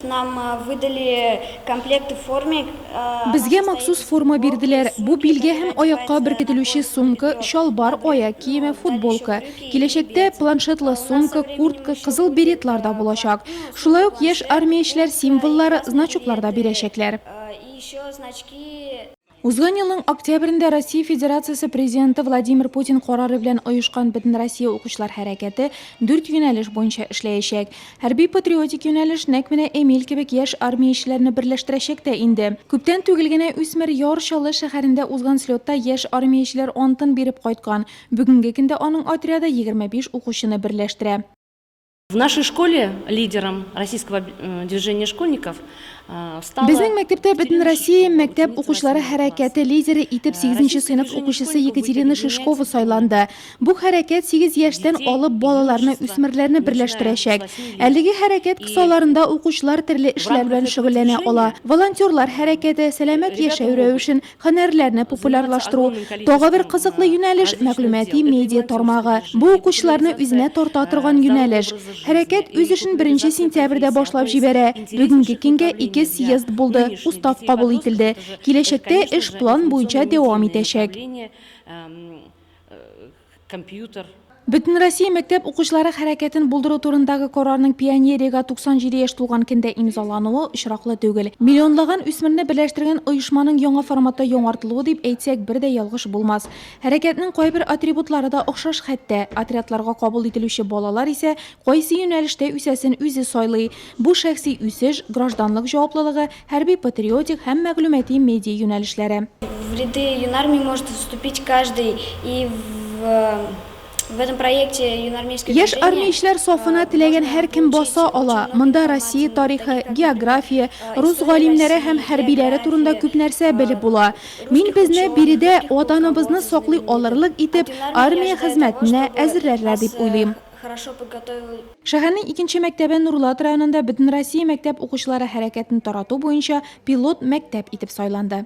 Нам выдали комплекты формик, она состоит из Безгә махсус форма бирделәр. Бу билгә һәм аякка беркетелүче сумка, чалбар, аяк киеме, футболка. Киләчәктә планшетлы сумка, куртка, кызыл беретлар да булачак. Шулай ук яшь армиячеләр символлары, значоклар да бирәчәкләр. и еще значки. Узган елның октябрендә Россия Федерациясе Президенты Владимир Путин карары белән оешкан Бөтенроссия укучылар хәрәкәте дүрт юнәлеш буенча эшләячәк. Хәрби-патриотик юнәлеш нәкъ менә Эмиль кебек яшь армиячеләрне берләштерәчәк тә инде. Күптән түгел генә үсмер Яр Чаллы шәһәрендә узган слетта яшь армиячеләр антын биреп кайткан. Бүгенге көндә аның отряды егерме биш укучыны берләштерә. В нашей школе лидером российского э, движения школьников э, стала... Безнең мәктәптә бөтен Россия мәктәп укучылары хәрәкәте лидеры итеп 8 э, сыйныф укучысы Екатерина Шишкова сайланды. Бу хәрәкәт 8 яшьтән алып балаларны, үсмерләрне берләштерәчәк. Әлеге хәрәкәт кысаларында укучылар төрле эшләр белән шөгыльләнә ала. Волонтерлар хәрәкәте, сәламәт яшәү рәвешен, Һөнәрләрне популярлаштыру. Тагы бер кызыклы юнәлеш, мәгълүмати медиа тармагы. Бу укучыларны үзенә тарта торган юнәлеш. Хәрәкәт үз эшен беренче сентябрьдә башлап җибәрә. Бүгенге көнгә ике съезд булды, устав кабул ителде. Киләчәктә эш план буенча дәвам итәчәк. компьютер. Бөтенроссия мәктәп укучылары хәрәкәтен булдыру турындагы карарның пионериягә 97 яшь тулган көндә имзалануы очраклы түгел. Миллионлаган үсмерне берләштергән оешманың яңа форматта яңартылуы дип әйтсәк бер дә ялгыш булмас. Хәрәкәтнең кайбер атрибутлары да охшаш хәтта. Отрядларга кабул ителүче балалар исә кайсы юнәлештә үсәсен үзе сайлый. Бу шәхси үсеш, гражданлык җаваплылыгы, Хәрби-патриотик һәм мәгълүмати медиа юнәлешләре. В ряды юнармии может вступить каждый и в В этом проекте юнармейское Яшь движение, армиячеләр э, сафына теләгән можно һәркем получить баса очень ала. много Монда Россия информации, тарихы, такие как география, история рус России, галимнәре һәм география, хәрбиләре турында күп нәрсә э, белеп була. русских Мин безне ученых, биредә русских ватаныбызны полководцев, саклый алырлык итеп, антинармия армия хезмәтенә әзерләрләр дип уйлыйм. хорошо подготовил. Шәһәрнең икенче мәктәбе Нурлат районында Бөтенроссия мәктәп укучылары хәрәкәтен тарату буенча пилот мәктәп итеп сайланды.